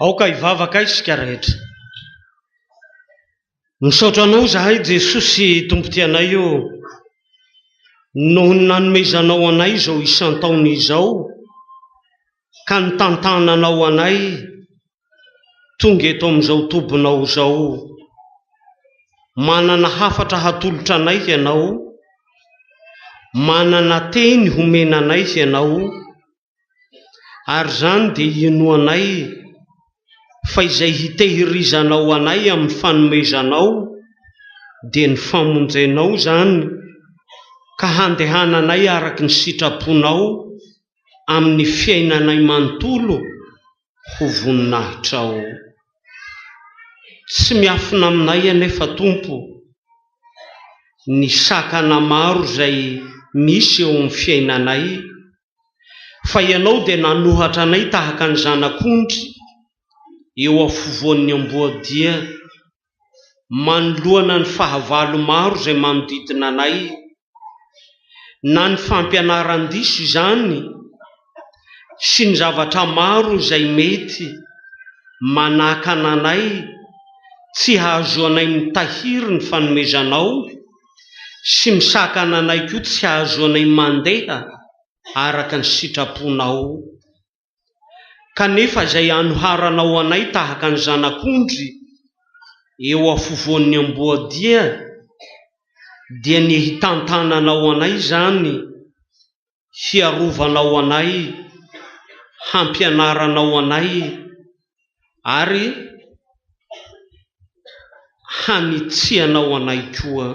Aoka hivavaka isika rehetra. Misaotra Anao izahay Jesosy Tompoty anay ô, noho ny nanomezanao anay izao isan-taona izao ka nitantananao anay tonga eto amin'izao tobinao izao. Manana hafatra hatolotra anay Ianao, manana teny homena anay Ianao, ary izany dia inoanay fa izay hitehirizanao anay amin'ny fanomezanao dia ny famonjenao izany ka handehananay araka ny sitraponao amin'ny fiainanay manontolo ho voninahitrao. Tsy miafina aminay anefa Tompo ny sakana maro izay misy eo amin'ny fiainanay, fa Ianao dia nanohatra anay tahaka ny zanak'ondry eo afovoan'ny amboadia. manoloana ny fahavalo maro izay manodidina anay, na ny fampianaran-diso izany sy ny zavatra maro izay mety manakana anay tsy hahazoanay mitahiry ny fanomezanao sy misakana anay koa tsy hahazoanay mandeha araka ny sitraponao Kanefa izay anoharanao anay tahaka ny zanak'ondry eo afovoan'ny amboadia, dia ny hitantananao anay izany, hiarovanao anay, hampianaranao anay, ary hanitsianao anay koa.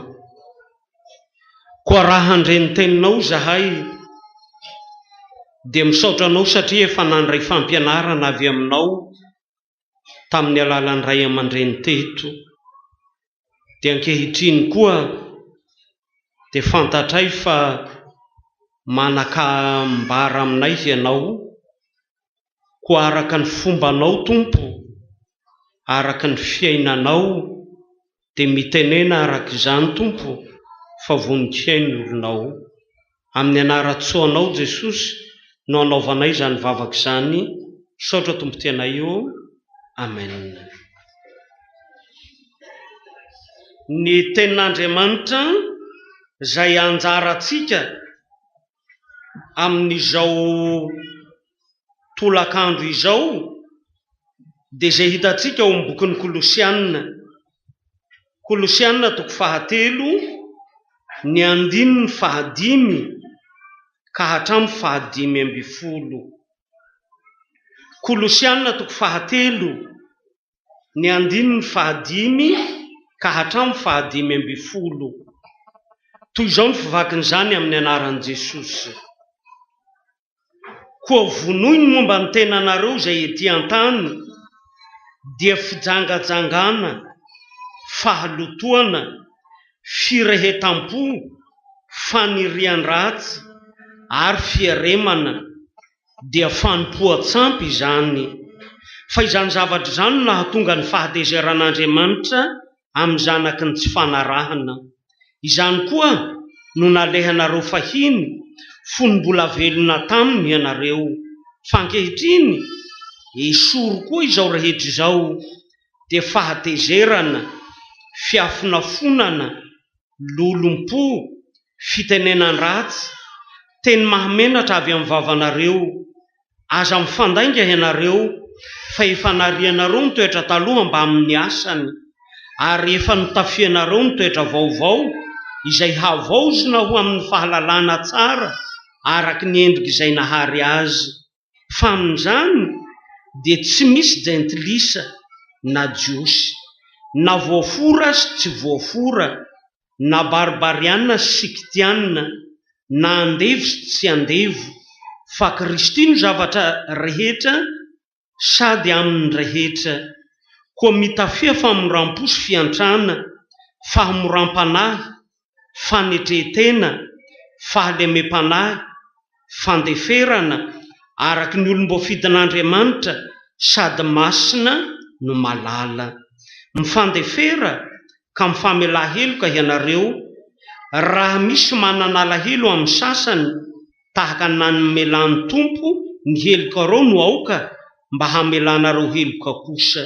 Koa raha handre ny teninao izahay, dia misaotra anao satria efa nandray fampianarana avy aminao tamin'ny alalan'ny ray aman-dreny teto, dia ankehitriny koa dia fantatray fa manakambara aminay ianao, Koa araka ny fombanao Tompo, araka ny fiainanao dia mitenena araka izany Tompo fa vonon-kiay ny olonao. Amin'ny anaran-tsoa anao Jesosy no anaovanay izany vavaka izany, misaotra Tompo Tianay ô, Amen. Ny tenin'Andriamanitra izay anjarantsika amin'izao tolakandro izao dia izay hitantsika ao amin'ny bokin'ny Kolosiana, Kolosiana toko fahatelo ny andininy fahadimy ka hatramin'ny fahadimy ambin'ny folo. Kolosiana toko fahatelo ny andininy fahadimy ka hatramin'ny fahadimy ambin'ny folo. Toy izao ny fivakin'izany amin'ny anaran'i Jesosy, Koa vonoy ny momba ny tenanareo izay ety an-tany, dia fijangajangana, fahalotoana, firehetam-po, fanirian-dratsy ary fiaremana. dia fanompoan-tsampy izany, fa izany zavatra izany no nahatonga ny fahatezeran'Andriamanitra amin'ny Zanakiny ny tsy fanarahana. Izany koa no nalehanareo fahiny, fony mbola velona taminy ianareo. Fa ankehitriny, esory koa izao rehetra izao, dia fahatezerana, fiafonafonana, lolompo, fitenenan-dratsy, teny mahamenatra avy amin'ny vavanareo. Aza mifandainga ianareo, fa efa narianareo ny toetra taloha mbamin'ny asany, ary efa notafianareo ny toetra vaovao, izay havaozina ho amin'ny fahalalana tsara araka ny endrik'izay nahary azy. fa amin'izany dia tsy misy jentilisa na jiosy, na voafora sy tsy voafora, na barbariana sy sikitiana, na andevo sy tsy andevo, fa Kristy no zavatra rehetra sady amin'ny rehetra. Koa mitafia famoram-po sy fiantrana, fahamoram-panahy, fanetren-tena, fahalemem-panahy, fandeferana, araka ny olom-boafidin'Andriamanitra, sady masina no malala. Mifandefera ka mifamelà heloka ianareo, raha misy manana alahelo amin'ny sasany, tahaka ny namelan'ny Tompo ny helokareo no aoka mba hamelanareo heloka kosa.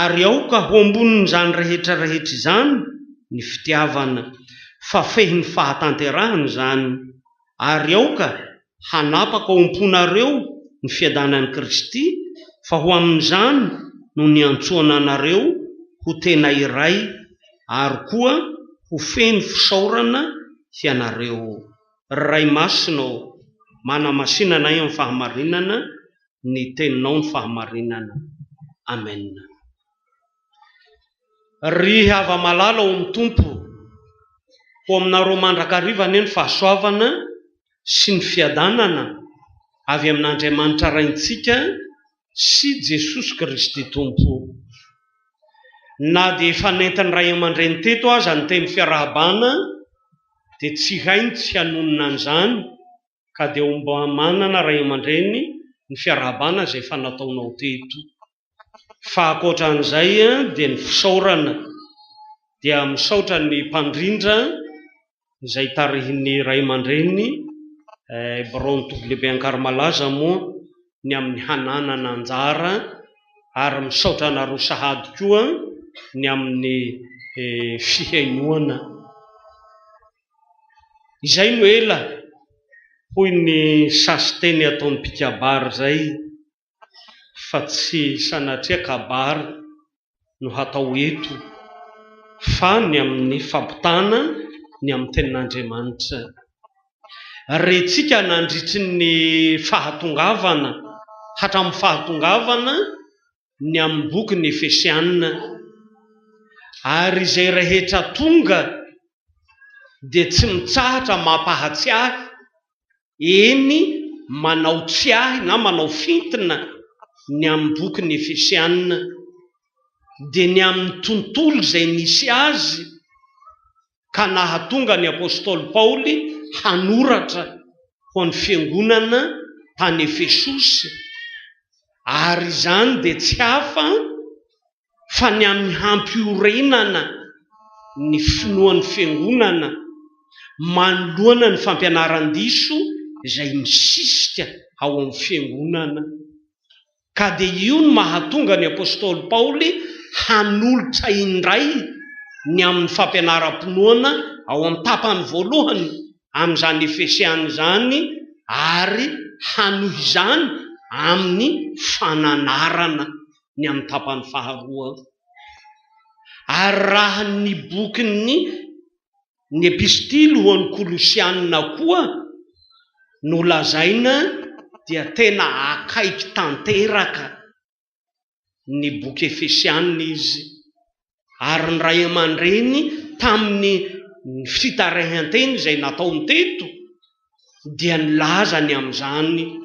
ary aoka ho ambonin'izany rehetra rehetra izany ny fitiavana, fa fehiny fahatanterahana izany, ary aoka hanapaka ao am-ponareo ny fiadanan'i Kristy, fa ho amin'izany no niantsoana anareo ho tena iray, ary koa ho feno fisaorana hianareo. Ry Ray Masina ô, manamasina anay amin'ny fahamarinana, ny teninao ny fahamarinana Amen. Ry hava malala ao amin'ny Tompo, ho aminareo mandrakariva anie ny fahasoavana sy ny fiadanana avy amin'Andriamanitra Raintsika sy Jesosy Kristy Tompo. Na dia efa nentin'ny ray aman-dreny teto aza ny teny fiarahabana dia tsy hay ny tsy hanonona an'izany, ka dia ho mba manana ray aman-dreny ny fiarahabana izay efa nataonao teto. Fa ankoatra an'izay dia ny fisaorana dia misaotra ny mpandrindra izay tarihin'ny ray aman-dreny Bron WB Ankarimalaza moa ny amin'ny hananana anjara ary misaotra anareo sahady koa ny amin'ny fihainoana. Izay no ela, hoy ny sasiteny ataon'ny mpikabary izay, fa tsy sanatria kabary no hatao eto fa ny amin'ny fampitana ny amin'ny tenin'Andriamanitra. Rentsika nandritry ny fahatongavana hatramin'ny fahatongavana ny amin'ny boky ny Efesiana, ary izay rehetra tonga dia tsy mitsahatra mampahatsiahy, eny, manao tsiahy na manao fintina ny amin'ny boky ny Efesiana, dia ny amin'ny tontolo izay nisy azy, ka nahatonga ny apostoly Paoly hanoratra ho an'ny fiangonana tany Efesosy, ary izany dia tsy hafa fa ny amin'ny hampiorenana ny finoan'ny fiangonana manoloana ny fampianaran-diso izay misisika ao amin'ny fiangonana. ka dia io no mahatonga ny apostoly Paoly hanolotra indray ny amin'ny fampianaram-pinoana ao amin'ny tapany voalohany amin'izany Efesiana izany ary hanohy izany amin'ny fananarana ny amin'ny tapany faharoa. Ary raha ny bokin'ny. Ny Epistily ho an'ny Kolosiana koa no lazaina dia tena akaiky tanteraka ny boky Efesiana izy, ary ny ray aman-dreny tamin'ny fitaraihanteny izay nataony teto, dia nilaza ny amin'izany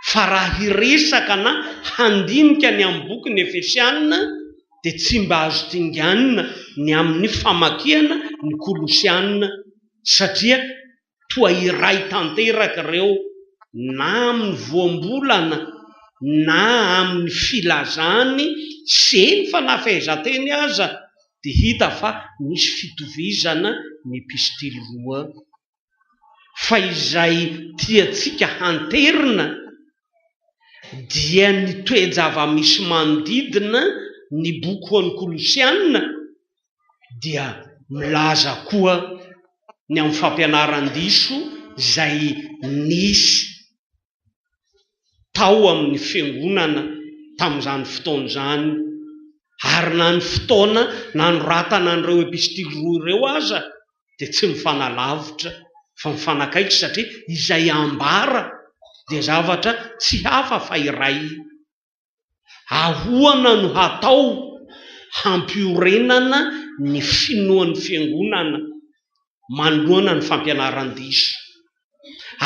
fa raha hiresaka na handinika ny amin'ny bokin'ny Efesiana dia tsy mba azo dinganina ny amin'ny famakiana ny Kolosiana satria toa iray tanteraka ireo na amin'ny voambolana na amin'ny filazany sy eny fa na fehezanteny aza dia hita fa misy fitovizana ny epistily roa fa izay tiantsika hanterina dia ny toe-java-misy manodidina ny boky ho an'ny Kolosiana dia milaza koa ny amin'ny fampianaran-diso izay nisy tao amin'ny fiangonana tamin'izany fotoana izany, ary na ny fotoana nanoratana an'ireo epistily roa ireo aza dia tsy mifanalavitra fa mifanakaiky satria izay ambara dia zavatra tsy hafa fa iray. Ahoana no hatao hampiorenana ny finoan'ny Fiangonana manoloana ny fampianaran-diso?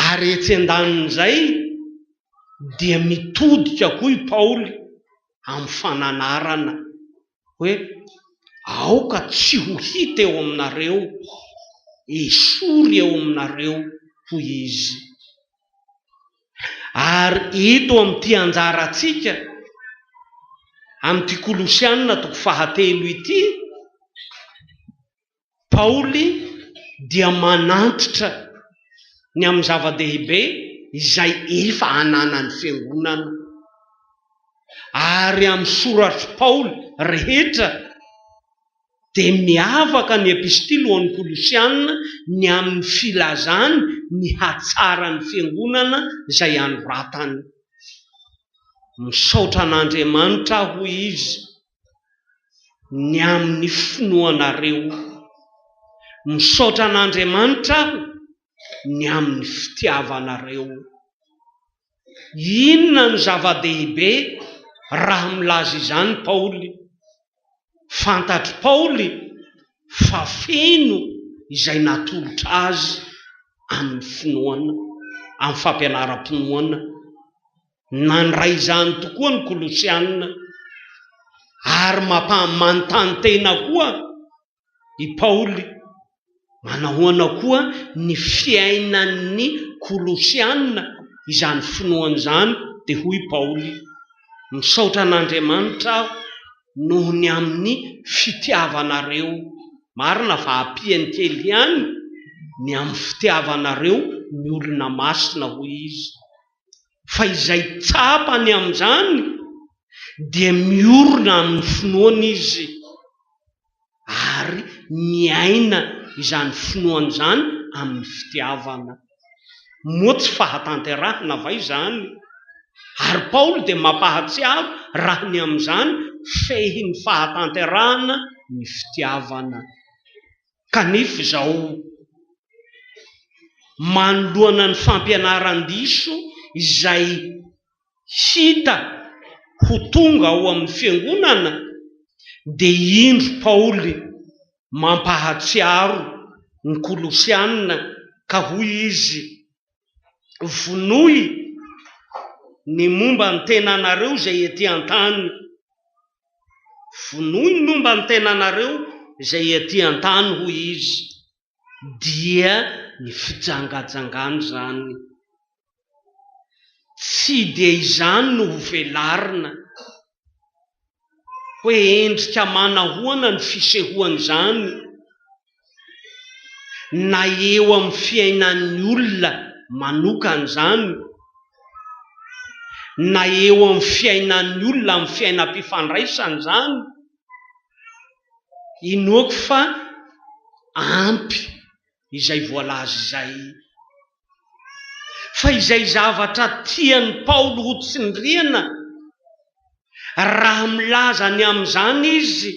Ary etsy an-danin'izay dia mitodika koa i Paoly amin'ny fananarana hoe, Aoka tsy ho hita eo aminareo, esory eo aminareo, hoy Izy. Ary eto amin'ity anjarantsika amin'ity Kolosiana toko fahatelo ity, Paoly dia manantitra ny amin'ny zava-dehibe izay efa ananan'ny fiangonana, ary amin'ny soratr'i Paoly rehetra dia miavaka ny Epistily ho an'ny Kolosiana ny amin'ny filazany ny hatsaran'ny fiangonana izay anoratany. Misaotra an'Andriamanitra aho, hoy izy, ny amin'ny finoanareo. Misaotra an'Andriamanitra aho ny amin'ny fitiavanareo. Inona no zava-dehibe raha milaza izany Paoly? Fantatr'i Paoly fa feno izay natolotra azy amin'ny finoana, amin'ny fampianaram-pinoana. Nandray izany tokoa ny Kolosiana, ary mampaha-manontany tena koa i Paoly. Manahoana koa ny fiainan'ny Kolosiana izany finoana izany? Dia hoy i Paoly, Misaotra an'Andriamanitra aho noho ny amin'ny fitiavanareo. Marina fa ampiany kely ihany ny amin'ny fitiavanareo ny olona masina, hoy izy. fa izay tsapany amin'izany dia miorina amin'ny finoany izy ary miaina izany finoany izany amin'ny fitiavana. Moa tsy fahatanterahana va izany? Ary Paoly dia mampahatsiaro raha ny amin'izany fehin'ny fahatanterahana ny fitiavana. kanefa izao manoloana ny fampianaran-diso izay hita ho tonga ao amin'ny Fiangonana dia indro Paoly mampahatsiaro ny Kolosiana ka hoy izy Vonoy ny momba ny tenanareo izay ety an-tany. Vonoy ny momba ny tenanareo izay ety an-tany, hoy Izy, dia ny fijangajangana izany. Tsy dia izany no ho velarina. hoe endrika manahoana ny fisehoan'izany na eo amin'ny fiainan'ny olona manokana izany na eo amin'ny fiainan'ny olona amin'ny fiainam-pifandraisany izany, inoako fa ampy. izay voalaza izay, fa izay zavatra tian'i Paoly hotsindriana, raha milaza ny amin'izany izy,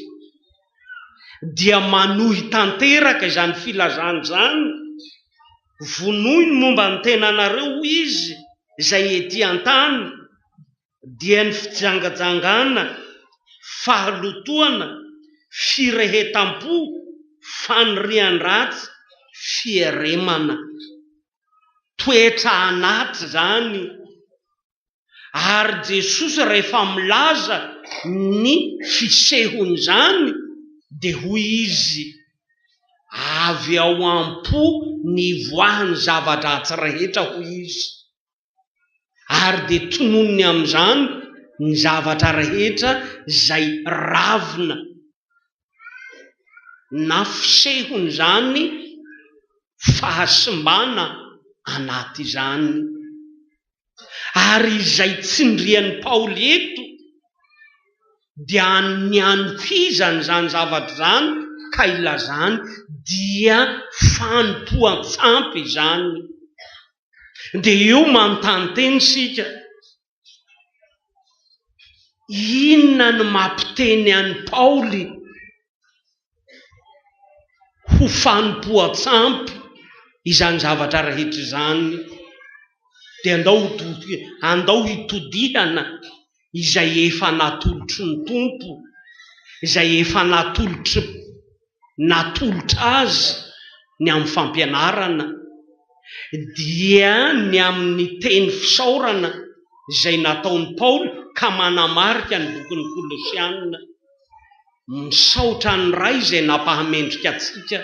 dia manohy tanteraka izany filazany izany, Vonoy ny momba ny tenanareo, hoy izy, izay etỳ an-tany. dia ny fijangajangana, fahalotoana, firehetam-po, fanirian-dratsy, fieremana. Toetra anaty izany io. Ary Jesosy rehefa milaza ny fisehon'izany dia hoy Izy, Avy ao am-po nivoahan'ny zava-dratsy rehetra, hoy Izy. ary dia tononiny amin'izany ny zavatra rehetra izay ravina na fisehon'izany fahasimbana anaty izany, ary izay tsindrian'i Paoly eto dia ny hanohizany izany zavatra izany ka ilazany dia fanompoan-tsampy izany. dia eo manontany tena isika, inona no mampiteny an'i Paoly ho fanompoan-tsampy izany zavatra rehetra izany? Dia andao hitodihana izay efa natolotry ny Tompo, izay efa natolotry natolotra azy ny amin'ny fampianarana dia ny amin'ny teny fisaorana izay nataon'i Paoly ka manamarika ny bokin'ny Kolosiana, Misaotra an'ny Ray izay nampahamendrika antsika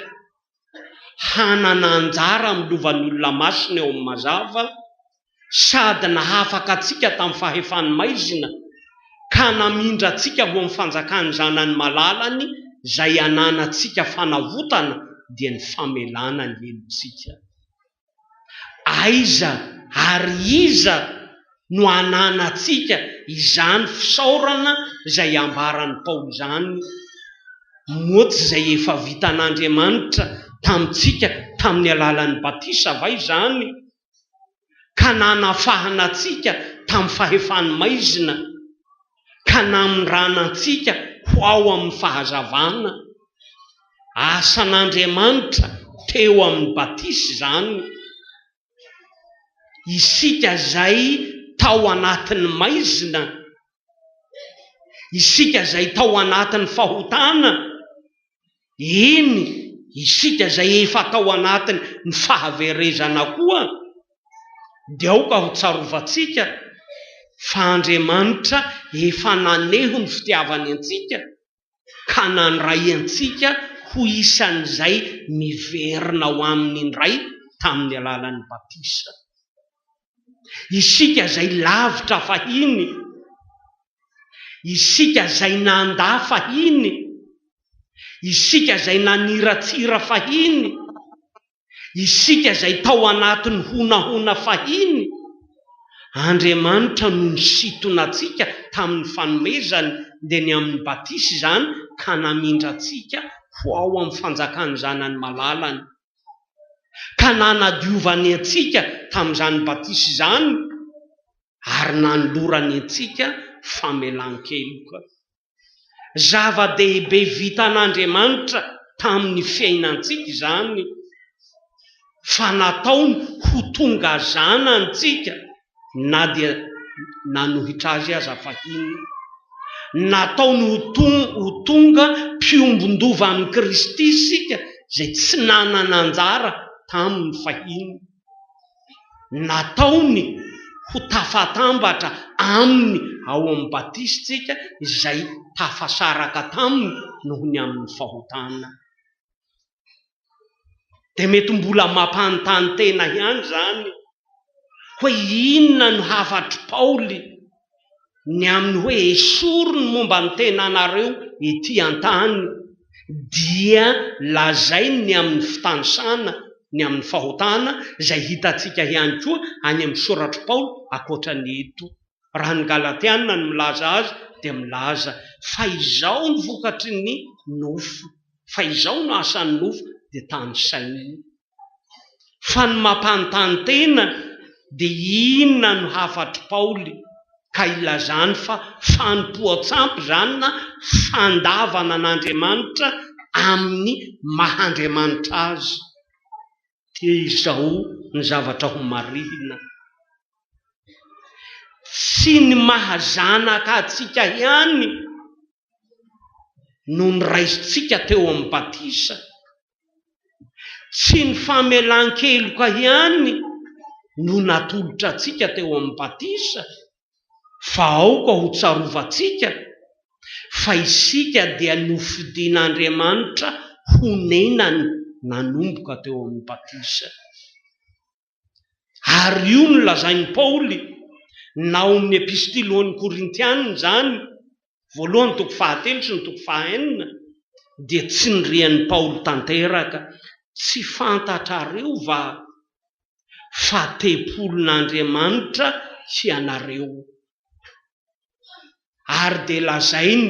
hanana anjara amin'ny lovan'ny olona masina eo amin'ny mazava sady nahafaka antsika tamin'ny fahefany maizina, ka namindra antsika ho amin'ny fanjakan'ny Zanany malalany izay ananantsika fanavotana, dia ny famelana ny helotsika. Aiza ary iza no ananantsika izany fisaorana izay ambaran'i Paoly izany, moa tsy izay efa vitan'Andriamanitra tamintsika tamin'ny alalan'ny batisa va izany? ka nanafahana antsika tamin'ny fahefany maizina, ka namindrana antsika ho ao amin'ny fahazavana. Asan'Andriamanitra teo amin'ny batisa izany. Isika izay tao anatin'ny maizina Isika izay tao anatin'ny fahotana, eny, isika izay efa tao anatin' ny fahaverezana koa, dia aoka ho tsarovantsika fa Andriamanitra efa naneho ny fitiavany antsika, ka nandray antsika ho isan'izay miverina ao Aminy indray tamin'ny alalan'ny batisa. Isika izay lavitra fahiny, isika izay nandà fahiny, isika izay naniratsira fahiny, Isika izay tao anatin'ny honahona fahiny, Andriamanitra no nisintona antsika tamin'ny fanomezany, dia ny amin'ny batisa izany, ka namindra antsika ho ao amin'ny fanjakan'ny Zanany malalany, ka nanadiovany antsika tamin'izany batisa izany, ary nanolorany antsika famelan-keloka. Zava-dehibe vitan'Andriamanitra tamin'ny fiainantsika izany, fa nataony ho tonga zanantsika, na dia nanohitra azy aza fahiny. Nataony ho tonga mpiombon-dova amin'i Kristy isika, izay tsy nanana anjara taminy fahiny. nataony ho tafatambatra aminy ao amin'ny batisintsika izay tafasaraka taminy noho ny amin'ny fahotana. Dia mety mbola mampanontany tena ihany izany hoe inona no hafatry Paoly ny amin'ny hoe esory ny momba ny tenanareo ety an-tany, dia lazainy ny amin'ny fitanisana ny amin'ny fahotana, izay hitantsika ihany koa any amin'ny soratr'i Paoly ankoatra ny eto. Raha ny Galatiana no milaza azy, dia milaza fa izao no vokatry ny nofo, fa izao no asan'ny nofo, dia tanisainy. Fa ny mampanontany tena dia inona no hafatr'i Paoly ka ilazany fa fanompoan-tsampy izany na fandavana an'Andriamanitra amin'ny maha Andriamanitra azy? Dia izao ny zavatra homarihina, Tsy ny maha zanaka antsika ihany no noraisintsika teo amin'ny batisa, Tsy ny famelan-keloka ihany no natolotra antsika teo amin'ny batisa fa aoka ho tsarovantsika fa isika dia nofidin'Andriamanitra ho nenany nanomboka teo amin'ny batisa. Ary io no lazain'i Paoly na ao amin'ny Epistily ho an'ny Korintiana izany, voalohany toko fahatelo sy ny toko fahenina, dia tsindrian'i Paoly tanteraka, Tsy fantatrareo va fa tempolin'Andriamanitra hianareo? ary dia lazainy,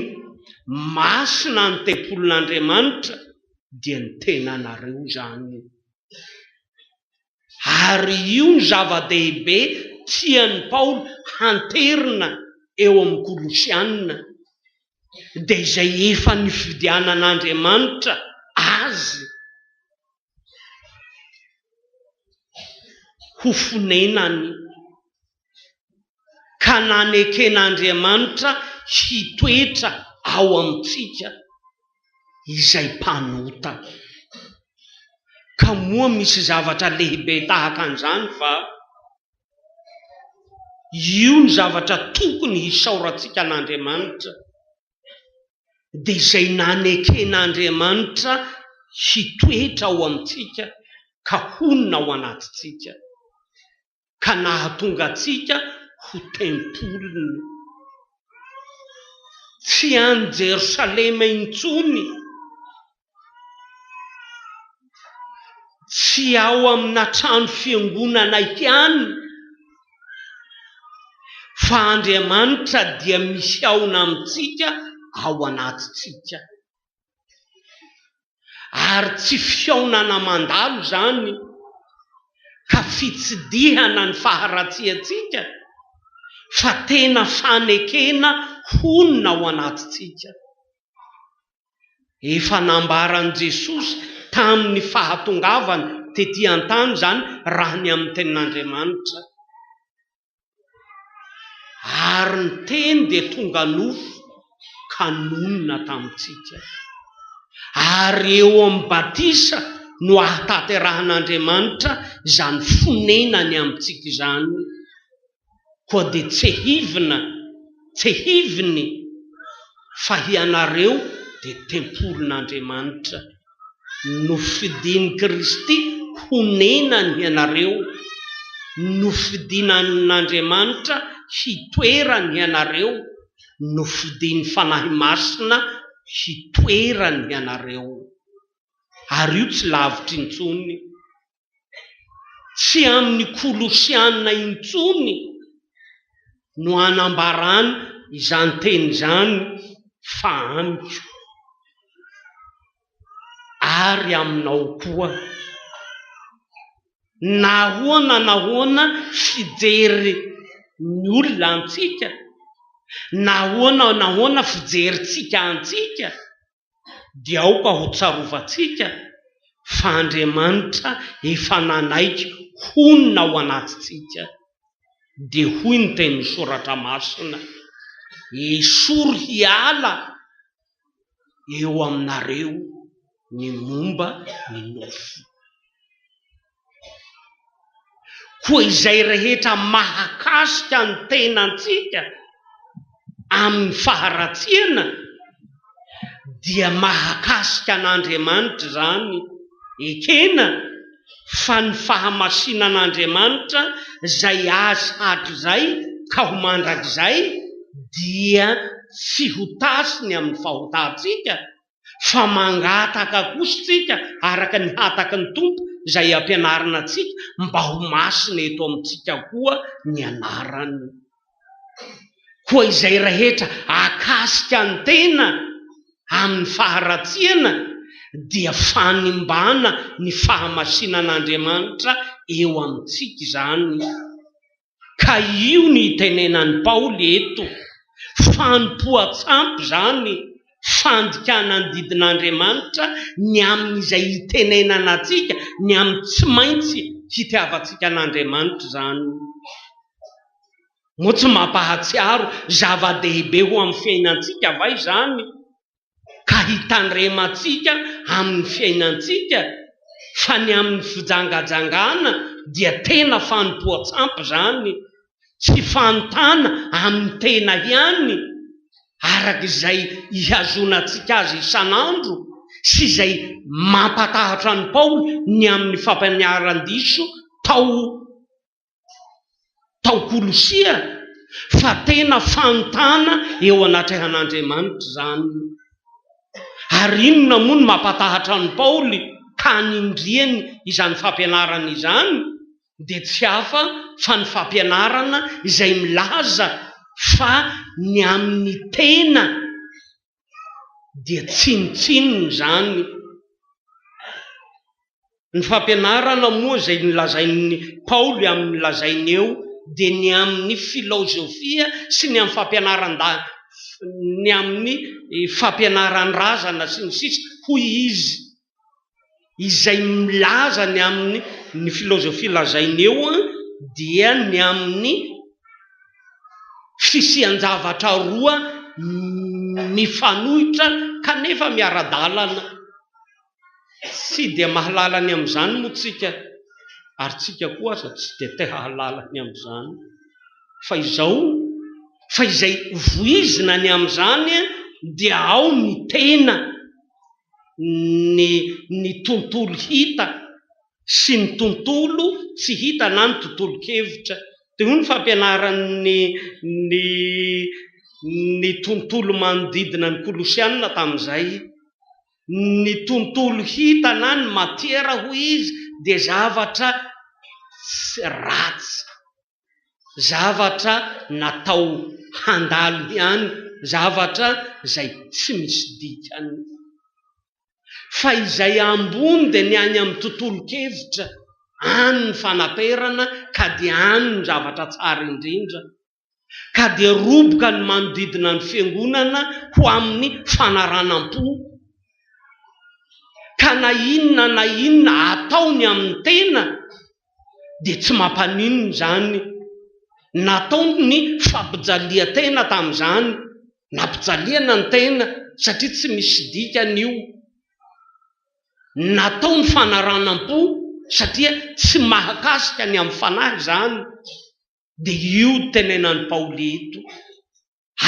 Masina ny tempolin'Andriamanitra, dia ny tenanareo izany io. Ary io no zava-dehibe tian'i Paoly hanterina eo amin'ny Kolosiana, dia izay efa nifidianan'Andriamanitra azy. ho fonenany ka naneken'Andriamanitra hitoetra ao amintsika izay mpanota. Ka moa misy zavatra lehibe tahaka an'izany va? Io ny zavatra tokony hisaorantsika an'Andriamanitra. dia izay naneken'Andriamanitra hitoetra ao amintsika ka honina ao anatintsika, ka nahatonga antsika ho tempoliny. Tsy any Jerosalema intsony Tsy ao amina trano fiangonana ihany fa Andriamanitra dia mihaona amintsika ao anatintsika. Ary tsy fihaonana mandalo izany ka fitsidihana ny faharatsiantsika fa tena fanekena honina ao anatintsika. Efa nambaran'i Jesosy tamin'ny fahatongavany tetỳ an-tany izany raha ny amin'ny Tenin'Andriamanitra, Ary ny Teny dia tonga nofo ka nonina tamintsika. Ary eo amin'ny batisa no ahatanterahan'Andriamanitra izany fonenany amintsika izany. koa dia tsehivina tsehiviny fa hianareo dia tempolin'Andriamanitra, nofidin'i Kristy honenany hianareo, nofidin'Andriamanitra hitoerany hianareo, nofidin'ny Fanahy Masina hitoerany hianareo. Ary io tsy lavitra intsony. Tsy amin'ny Kolosiana intsony no anambarany izany teny izany fa amiko ary aminao koa. Nahoana nahoana fijery ny olona antsika? Nahoana nahoana fijerintsika antsika? dia aoka ho tsarovantsika fa Andriamanitra efa nanaiky honina ao anatintsika, dia hoy ny tenin'ny Soratra Masina, Esory hiala eo aminareo ny momba ny nofo. koa izay rehetra mahakasika ny tenantsika amin'ny faharatsiana dia mahakasika an'Andriamanitra izany, ekena fa ny fahamasinan'Andriamanitra izay azy hatrizay ka ho mandrakizay dia tsy ho tasiny amin'ny fahotantsika, fa mangataka kosa isika araka ny hataky ny Tompo izay ampianarina antsika mba ho masina eto amintsika koa ny anarany. Koa izay rehetra akasika ny tena amin'ny faharatsiana dia fanimbana ny fahamasinan'Andriamanitra eo amintsika izany. Ka io ny itenenan'i Paoly eto, fanompoan-tsampy izany, fandikana ny didin'Andriamanitra ny amin'izay itenenana antsika, ny amin'ny tsy maintsy hitiavantsika an'Andriamanitra izany. Moa tsy mampahatsiaro zava-dehibe ho amin'ny fiainantsika va izany? ka hitandremantsika amin'ny fiainantsika fa ny amin'ny fijangajangana dia tena fanompoan-tsampy izany, tsy fanontana amin'ny tena ihany araka izay ihazoanantsika azy isan'andro sy izay mampatahotra an'i Paoly ny amin'ny fampaniaran-diso tao tao Kolosia fa tena fanontana eo anatrehan'Andriamanitra izany. Ary inona moa no mampatahatra an'i Paoly ka anindriany izany fampianarana izany dia tsy hafa fa ny fampianarana izay milaza fa ny amin'ny tena dia tsinontsinona izany. Ny fampianarana moa izay nolazain'i Paoly amin'ny lazainy eo dia ny amin'ny filaozofia sy ny amin'ny fampianaran-dala, ny amin'ny fampianaran-drazana sy ny sisa hoy izy. izay milaza ny amin'ny ny filozofia lazainy eo dia ny amin'ny fisian-javatra roa mifanohitra kanefa miara-dalana, tsy dia mahalala ny amin'izany moa tsika ary tsika koa aza tsy dia te hahalala ny amin'izany fa izao fa izay voizina ny amin'izany dia ao ny tena. ny ny tontolo hita sy ny tontolo tsy hita na ny tontolon-kevitra. Dia hoy ny fampianaran'ny ny ny tontolo manodidina ny Kolosiana tamin'izay, Ny tontolo hita na ny matiera, hoy izy, dia zavatra tsy ratsy. zavatra natao handalo ihany, zavatra izay tsy misy dikany. Fa izay ambony dia ny any amin'ny tontolon-kevitra, any ny fanaperana ka dia any ny zavatra tsara indrindra, ka dia roboka ny manodidina ny Fiangonana ho amin'ny fanaranam-po, ka na inona na inona atao ny amin'ny tena, dia tsy mampaninona izany. Natao ny fampijalian-tena tamin'izany, nampijaliana ny tena satria tsy misy dikany io. Natao ny fanaranam-po satria tsy mahakasika ny amin'ny fanahy izany. Dia io tenenan'i Paoly ito.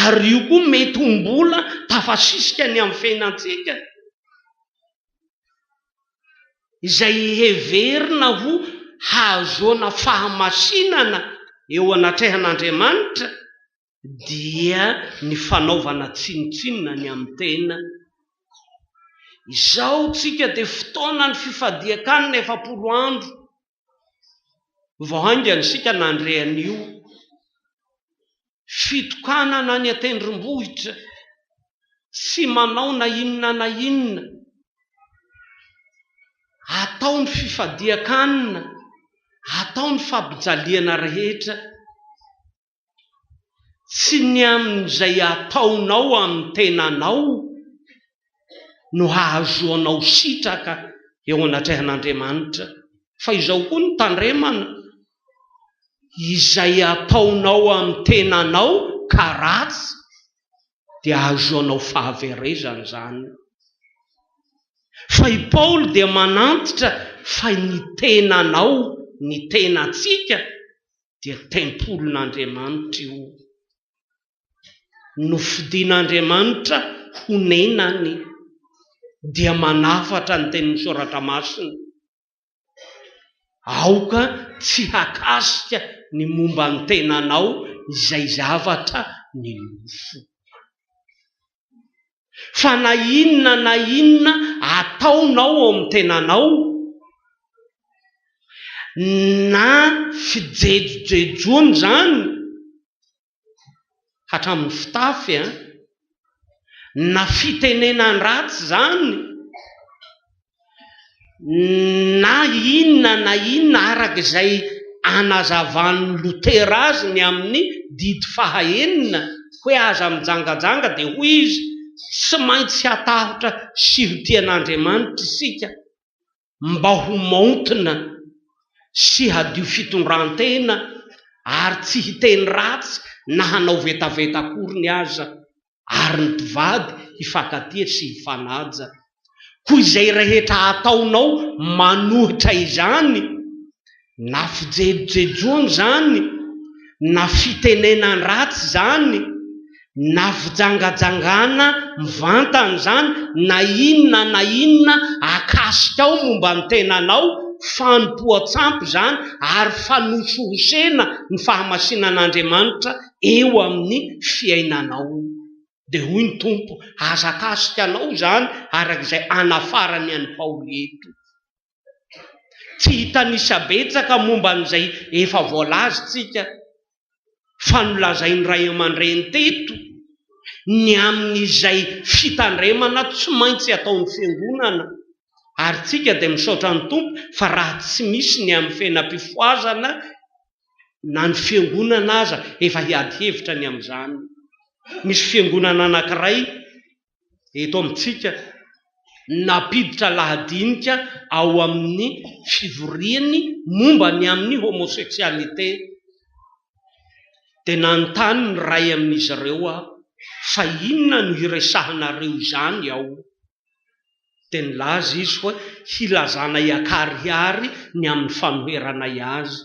Ary io koa mety ho mbola tafasisika ny amin'ny fiainantsika, izay heverina ho hahazoana fahamasinana eo anatrehan'Andriamanitra, dia ny fanaovana tsinontsinona ny amin'ny tena. Izao tsika dia fotoanan'ny fifadian-kanina efapolo andro Vao haingana isika nandre an'io fitokanana any an-tendrombohitra, tsy manao na inona na inona, atao ny fifadian-kanina, atao ny fampijaliana rehetra. Tsy ny amin'izay ataonao amin'ny tenanao no hahazoanao sitraka eo anatrehan'Andriamanitra, fa izao koa no tandremana, izay ataonao amin'ny tenanao ka ratsy dia hahazoanao fahaverezana izany. Fa i Paoly dia manantitra fa ny tenanao, ny tenantsika, dia tempolin'Andriamanitra io, nofidin'Andriamanitra ho nenany, dia manafatra ny tenin'ny Soratra Masina. Aoka tsy hakasika ny momba ny tenanao izay zavatra ny nofo. fa na inona na inona ataonao ao amin'ny tenanao na fijejojejoana izany hatramin'ny fitafy an, na fitenenan-dratsy izany na inona na inona araka izay anazavan'i Lotera azy ny amin'ny didy faha enina hoe aza mijangajanga dia hoy izy, tsy maintsy hatahotra sy ho tia an'Andriamanitra isika mba ho maontina sy hadio fitondran-tena ary tsy hiteny ratsy na hanao vetaveta akoriny aza. ary ny mpivady hifankatia sy hifanaja. Koa izay rehetra ataonao manohitra izany, na fijejojejoana izany, na fitenenan-dratsy izany, na fijangajangana mivantana izany, na inona na inona akasikao momba ny tenanao, fanompoan-tsampy izany, ary fanosohosena ny fahamasinan'Andriamanitra, eo amin'ny fiainanao. Dia hoy ny Tompo, Hazakaziko anao izany, araka izay anafarany an'i Paoly eto. Tsy hitanisa betsaka momba an'izay efa voalaza isika, fa nolazain'ny ray aman-dreny teto ny amin'izay fitandremana tsy maintsy ataon'ny Fiangonana. Ary isika dia misaotra ny Tompo fa raha tsy misy ny amin'ny fiainam-pifohazana na ny fiangonana aza efa hiady hevitra ny amin'izany. Misy fiangonana anankiray eto amintsika nampiditra lahadinika ao amin'ny fivoriany momba ny amin'ny homosexualité dia nanontany ny iray amin'izy ireo aho fa inona no hiresahanareo izany ao? dia nilaza izy hoe hilazanay an-karihary ny amin'ny fanoheranay azy.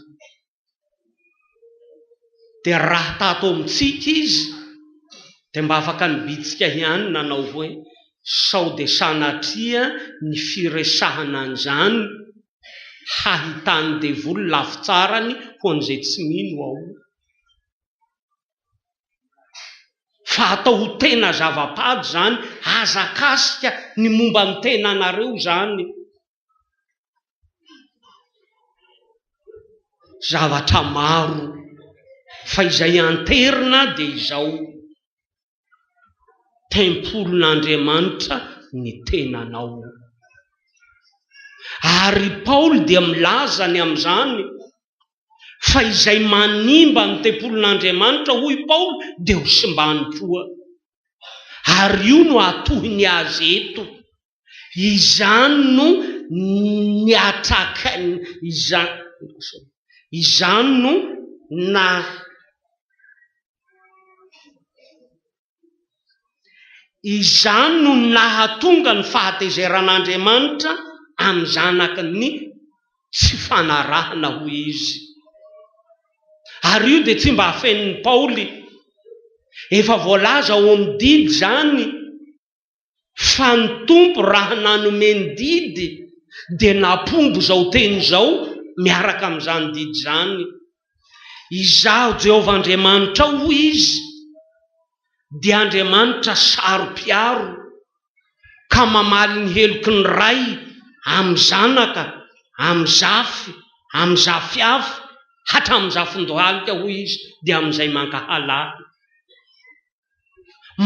Dia raha tato amintsika izy dia mba afaka nibitsika ihany nanao hoe, sao dia sanatria ny firesahana an'izany hahitan'ny devoly lafitsarany ho an'izay tsy mino ao. fa atao ho tena zava-pady izany, aza akasika ny momba ny tenanareo izany, zavatra maro fa izay anterina dia izao, tempolin'Andriamanitra ny tenanao, ary i Paoly dia milaza ny amin'izany fa izay manimba ny tempolin'Andriamanitra, hoy Paoly, dia ho simbany koa. Ary io no atohiny azy eto. Izany no niatrakainy izany, izany no na. Izany no nahatonga ny fahatezeran'Andriamanitra amin'ny Zanakiny ny tsy fanarahana ho Izy. Ary io dia tsy mba afenin'i Paoly. Efa voalaza ao amin'ny didy izany fa ny Tompo raha nanome ny didy dia nampombo izao teny izao miaraka amin'izany didy izany, Izaho Jehovah Andriamanitrao, hoy Izy, dia Andriamanitra saro-piaro, ka mamaly ny heloky ny ray amin'ny zanaka, amin'ny zafy, amin'ny zafiafy, hatramin'ny zafin-dohalika, hoy Izy, dia amin'izay mankahala Ahy.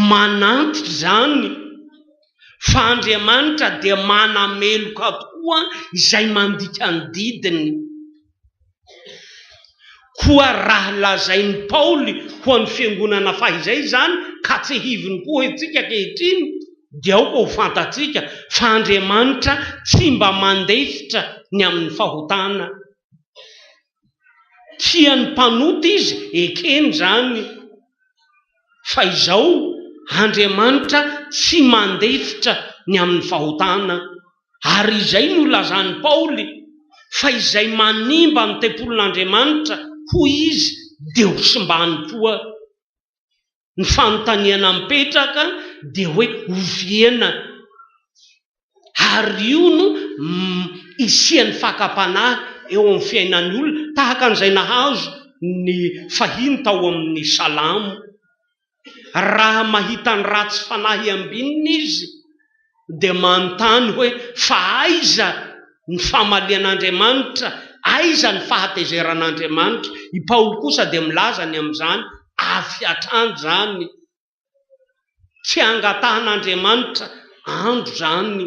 Manantitra izany fa Andriamanitra dia manameloka tokoa izay mandika ny didiny. Koa raha lazain'i Paoly ho an'ny fiangonana fahizay izany ka tsihiviny koa isika ankehitriny, dia aoka ho fantatsika fa Andriamanitra tsy mba mandefitra ny amin'ny fahotana. kian'ny mpanota izy ekeny izany fa izao Andriamanitra tsy mandefitra ny amin'ny fahotana ary izay no lazan'i Paoly fa izay manimba ny tempolin'Andriamanitra hoy izy dia ho simbany koa Ny fanontaniana mipetraka dia hoe oviana ary io no isian'ny fakam-panahy eo amin'ny fiainan'ny olona tahaka an'izay nahazo ny fahiny tao amin'ny Salamo. Raha mahita ny ratsy fanahy ambinina izy. dia manontany hoe fa aiza ny famalian'Andriamanitra, aiza ny fahatezeran'Andriamanitra? I Paoly kosa dia milaza ny amin'izany avy hatrany izany, tsy hangatahan'Andriamanitra andro izany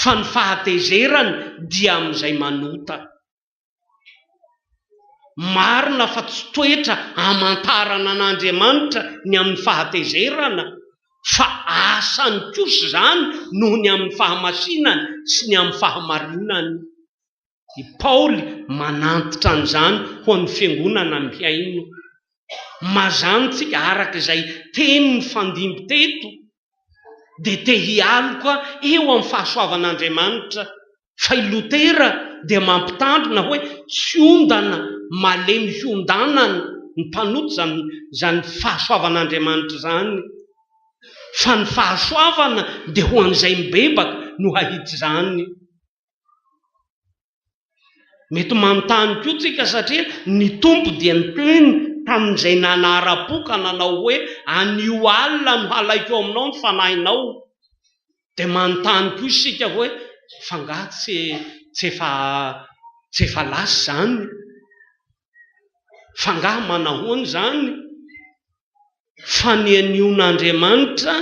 fa ny fahatezerany dia amin'izay manota. Marina fa tsy toetra hamantarana an'Andriamanitra ny amin'ny fahatezerana, fa asany kosa izany noho ny amin'ny fahamasinany sy ny amin'ny fahamarinany. I Paoly manantitra an'izany ho an'ny fiangonana mihaino. Mazàntsika araka izay teny nifandimby teto dia te hialoka eo amin'ny fahasoavan'Andriamanitra, fa i Lotera dia mampitandrina hoe tsy ondana malemy hiondanan'ny mpanota izany izany fahasoavan'Andriamanitra izany, fa ny fahasoavana dia ho an'izay mibebaka no hahita izany. Mety manontany koa tsika satria ny Tompo dia niteny tamin'izay nanara-po ka nanao hoe, anio alina no halaiko ao aminao ny fanahinao. Dia manontany koa isika hoe, fa nga tsy tsy efa tsy efa lasa izany? Fa nga manahoana izany? fa ny aniona Andriamanitra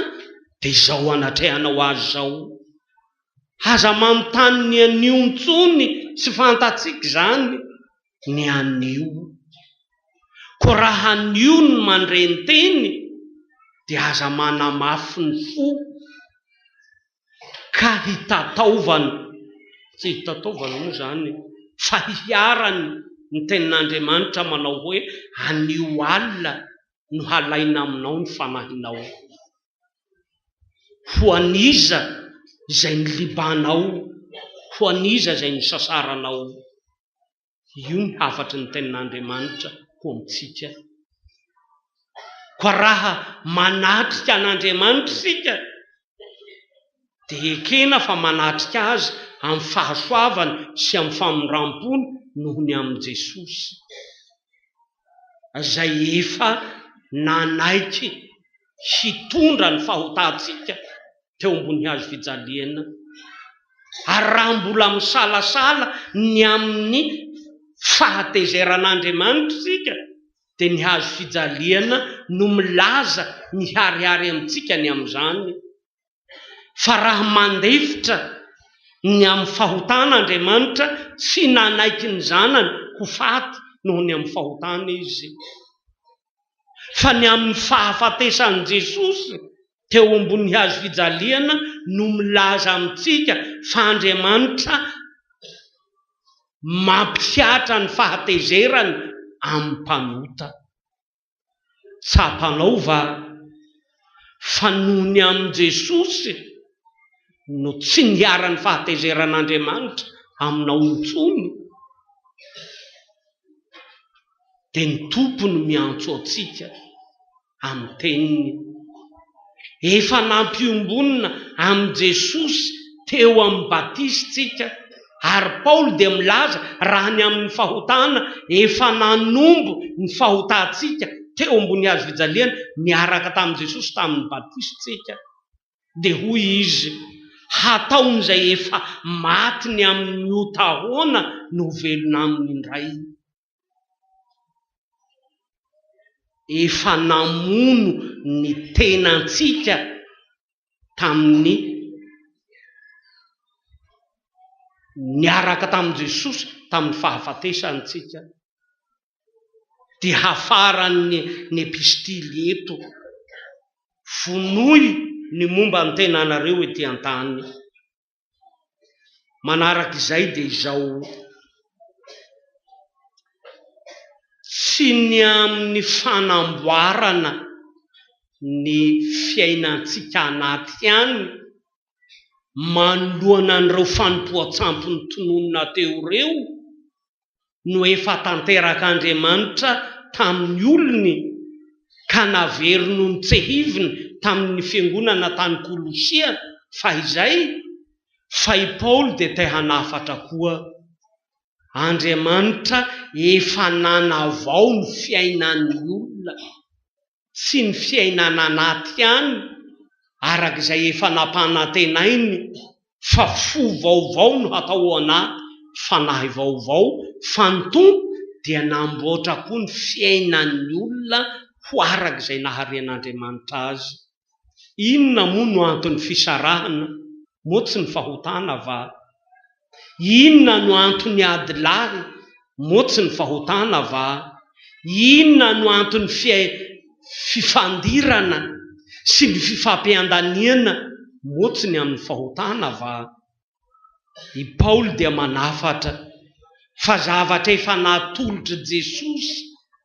dia izao anatrehanao azy izao. Aza manontany ny anio intsony tsy fantatsika izany ny anio. Koa raha anio ny mandre ny teny dia aza manamafy ny fo. ka hitataovany, tsy hitataovany moa izany e, fa hiharany ny tenin'Andriamanitra manao hoe, anio alina no halaina aminao ny fanahinao. Ho an'iza izay nilibanao? Ho an'iza izay nisasaranao? Io ny hafatry ny tenin'Andriamanitra ho amintsika. Koa raha manatrika an'Andriamanitra isika, dia ekena fa manatrika Azy amin'ny fahasoavany sy amin'ny famindram-pony noho ny amin'i Jesosy. izay efa nanaiky hitondra ny fahotantsika teo ambony hazo fijaliana, ary raha mbola misalasala ny amin'ny fahatezeran'Andriamanitra isika, dia ny hazo fijaliana no milaza miharihary amintsika ny amin'izany. fa raha mandefitra ny amin'ny fahotana Andriamanitra, tsy nanaiky ny Zanany ho faty noho ny amin'ny fahotana Izy, fa ny amin'ny fahafatesan'i Jesosy teo ambony hazo fijaliana no milaza amintsika fa Andriamanitra mampihatra ny fahatezerany amin'ny mpanota. Tsapanao va fa noho ny amin'i Jesosy no tsy niharan'ny fahatezeran'Andriamanitra aminao intsony? Dia ny Tompo no miantso antsika amin'ny teniny. efa nampiombonina amin'i Jesosy teo amin'ny batisintsika, ary Paoly dia milaza raha ny amin'ny fahotana efa nanombo ny fahotantsika teo ambony hazo fijaliana niaraka tamin'i Jesosy tamin'ny batisintsika, dia hoy izy, Hataon'izay efa maty ny amin'ny ota ahoana no ho velona aminy indray? efa namono ny tenantsika tamin'ny niaraka tamin'i Jesosy tamin'ny fahafatesantsika dia hafaran'ny ny epistily eto, vonoy ny momba ny tenanareo ety an-tany. Manaraka izay dia izao, tsy ny amin'ny fanamboarana ny fiainantsika anaty ihany manoloana an'ireo fanompoan-tsampy notononina teo ireo no efa tanterak'Andriamanitra tamin'ny olony ka naverino notsehiviny tamin'ny fiangonana tany Kolosia fahizay, fa i Paoly dia te hanafatra koa, Andriamanitra efa nanavao ny fiainan'ny olona. sy ny fiainana anaty ihany araka izay efa nampanantenainy fa fo vaovao no hatao ao anaty fanahy vaovao fa ny Tompo dia namboatra koa ny fiainan'ny olona ho araka izay naharen'Andriamanitra azy. Inona moa no anton'ny fisarahana? Moa tsy ny fahotana va? Inona no anton'ny ady lahy? Moa tsy ny fahotana va? Inona no anton'ny fifandirana sy ny fifampiandaniana? Moa tsy ny amin'ny fahotana va? I Paoly dia manafatra fa zavatra efa natolotr'i Jesosy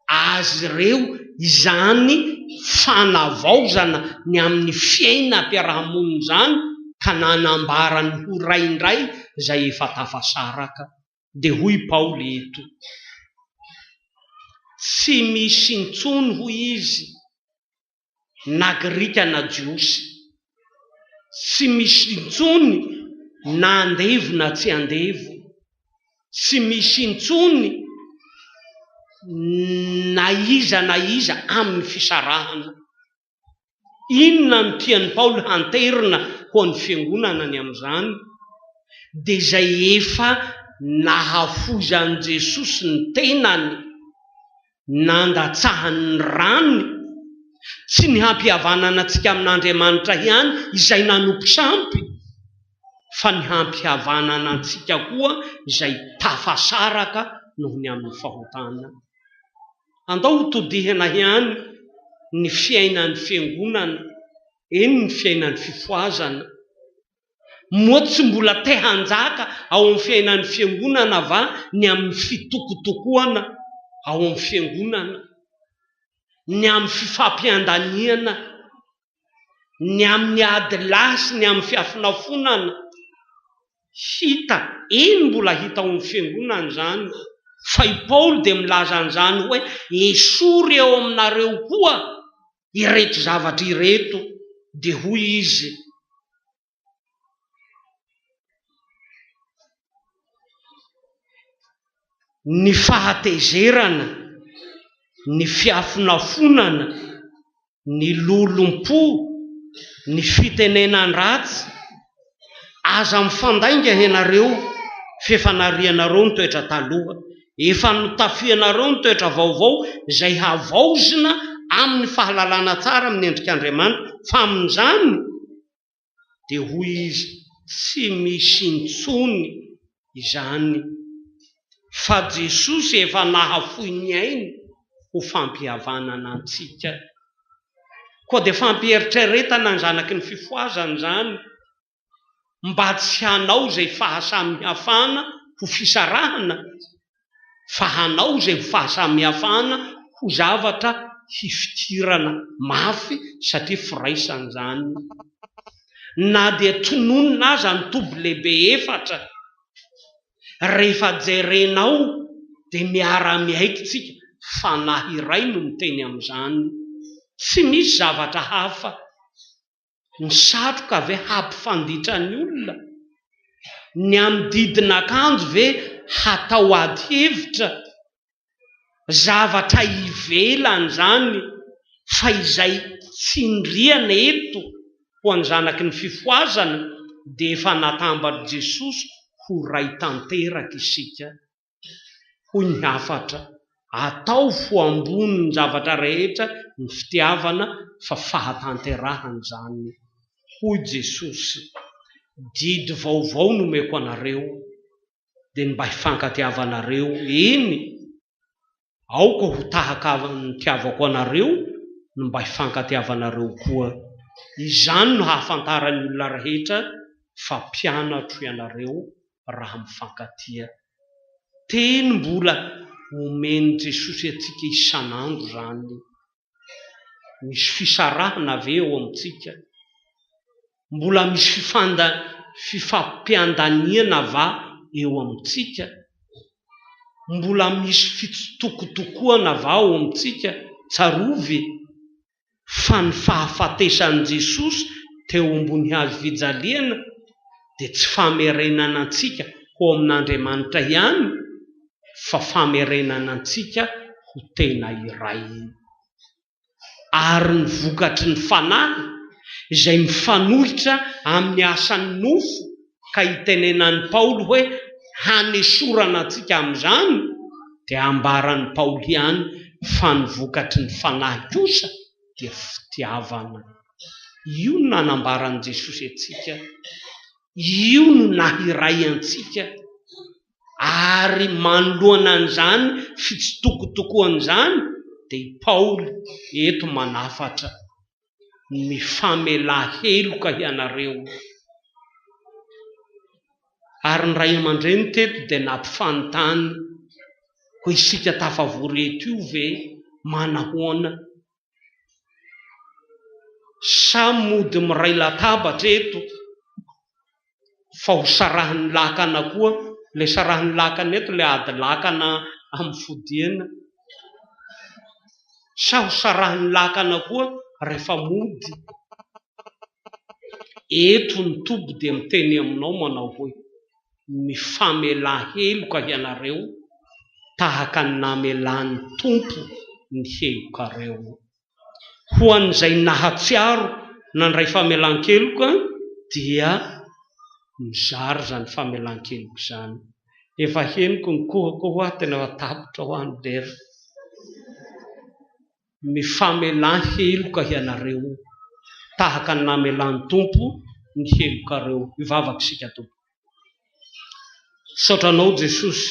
azy ireo izany fanavaozana ny amin'ny fiainam-piarahamonina izany ka nanambara ny ho ray indray izay efa tafasaraka. Dia hoy Paoly eto, Tsy misy intsony, hoy izy, na grika na jiosy. Tsy misy intsony na andevo na tsy andevo. Tsy misy intsony na iza na iza amin'ny fisarahana. Inona no tian'i Paoly hanterina ho an'ny fiangonana ny amin'izany? Dia izay efa nahafoizan'i Jesosy ny tenany nandatsahany ny ranony, tsy ny hampihavanana antsika amin'Andriamanitra ihany izay nanompo sampy, fa ny hampihavanana antsika koa izay tafasaraka noho ny amin'ny fahotana. Andao hotodihina ihany ny fiainan'ny Fiangonana, eny ny fiainan'ny fifohazana. Moa tsy mbola te hanjaka ao amin'ny fiainan'ny Fiangonana va ny amin'ny fitokotokoana ao amin'ny Fiangonana, ny amin'ny fifampiandaniana, ny amin'ny ady lahy sy ny amin'ny fiafonafonana? Hita, eny mbola hita ao amin'ny Fiangonana izany, fa i Paoly dia milaza an'izany hoe, Esory eo aminareo koa ireto zavatra ireto dia hoy izy, ny fahatezerana, ny fiafonafonana, ny lolompo, ny fitenenan-dratsy, Aza mifandainga ianareo f'efa narianareo ny toetra taloha, efa notafianareo ny toetra vaovao izay havaozina amin'ny fahalalana tsara amin'ny endrik'Andriamanitra fa amin'izany dia hoy izy tsy misy intsony izany fa Jesosy efa nahafoy ny ainy ho fampihavanana antsika. Koa dia fampieritreretana ny zanaky ny fifohazana izany mba tsy hanao izay fahasamihafana ho fisarahana. fa hanao izay ho fahasamihafana ho zavatra hifidirana mafy satria firaisana izany na dia tononina aza ny toby lehibe efatra rehefa jerenao dia miara-miaiky tsika fanahy iray no miteny amin'izany tsy misy zavatra hafa Ny satroka ve hampifanditra ny olona? Ny amin'ny didin'akanjo ve hatao ady hevitra? Zavatra ivelan'izany fa izay tsindriana eto ho an'ny zanaky ny fifohazana dia efa natamban'i Jesosy ho Ray tanteraka isika. hoy ny hafatra, ataovy ambonin'ny zavatra rehetra ny fitiavana fa fahatanterahana izany. Hoy Jesosy, Didy vaovao no omeko anareo, dia ny mba hifankatiavanareo, eny, Aoka ho tahaka ahy nitiavako anareo ny mba hifankatiavanareo koa. Izany no hahafantaran'ny olona rehetra fa mpianatro ianareo raha mifankatia. Teny mbola omen'i Jesosy antsika isan'andro izany. Misy fisarahana ve eo amintsika? Mbola misy fifampiandaniana va eo amintsika? Mbola misy fitsitokotokoana va ao amintsika? Tsarovy fa ny fahafatesan'i Jesosy teo ambony hazo fijaliana dia tsy famerenana antsika ho amin'Andriamanitra ihany, fa famerenana antsika ho tena iray. Ary ny vokatry ny Fanahy izay mifanohitra amin'ny asan'ny nofo ka itenenan'i Paoly hoe hanesorana antsika amin'izany dia ambaran'i Paoly ihany fa ny vokatry ny Fanahy kosa dia fitiavana. Io no nanambaran'i Jesosy antsika, io no nahiray antsika. ary manoloana an'izany fitsitokotokoana izany dia i Paoly eto manafatra, Mifamela heloka hianareo. Ary ny ray aman-dreny teto dia nampifanontany, Koa isika tafavory eto io ve manahoana? Samy mody miray latabatra eto fa ho sarahin'ny lakana koa, ilay sarahin'ny lakana eto ilay ady lakana amin'ny fodiana, sa ho sarahin'ny lakana koa rehefa mody? Eto ny toby dia miteny aminao manao hoe. mifamela heloka hianareo tahaka ny namelan'ny Tompo ny helokareo. Ho an'izay nahatsiaro nandray famelan-keloka dia mizara izany famelan-keloka izany. Efa henoko ny kohako hoa tena efa tapitra hoa ny lera. Mifamelà heloka hianareo, tahaka ny namelà ny Tompo ny helokareo. Hivavaka isika, Tompo. Misaotra Anao, Jesosy,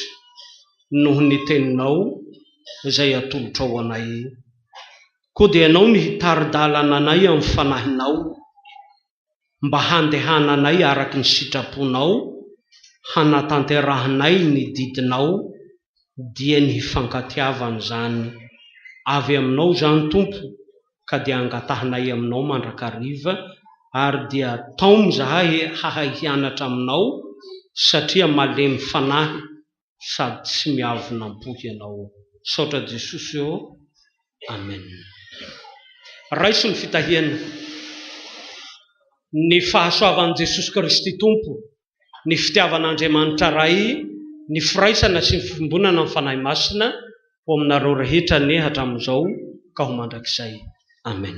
noho ny Teninao izay atolotrao anay. Koa dia Ianao no hitari-dalana anay amin'ny Fanahinao. mba handehananay araka ny sitraponao, hanatanterahanay ny didinao, dia ny hifankatiavana izany avy aminao izany Tompo ka dia angatahanay aminao mandrakariva, ary dia taomy izahay hahay hianatra aminao satria malemy fanahy sady tsy miavonampo hianao ô. Misaotra Jesosy ô. Amen. Raiso ny fitahiana. Ny fahasoavan'i Jesosy Kristy Tompo, ny fitiavan'Andriamanitra Ray, ny firaisana sy ny fiombonana amin'ny Fanahy Masina ho aminareo rehetra anie hatramin'izao ka ho mandrakizay. Amen.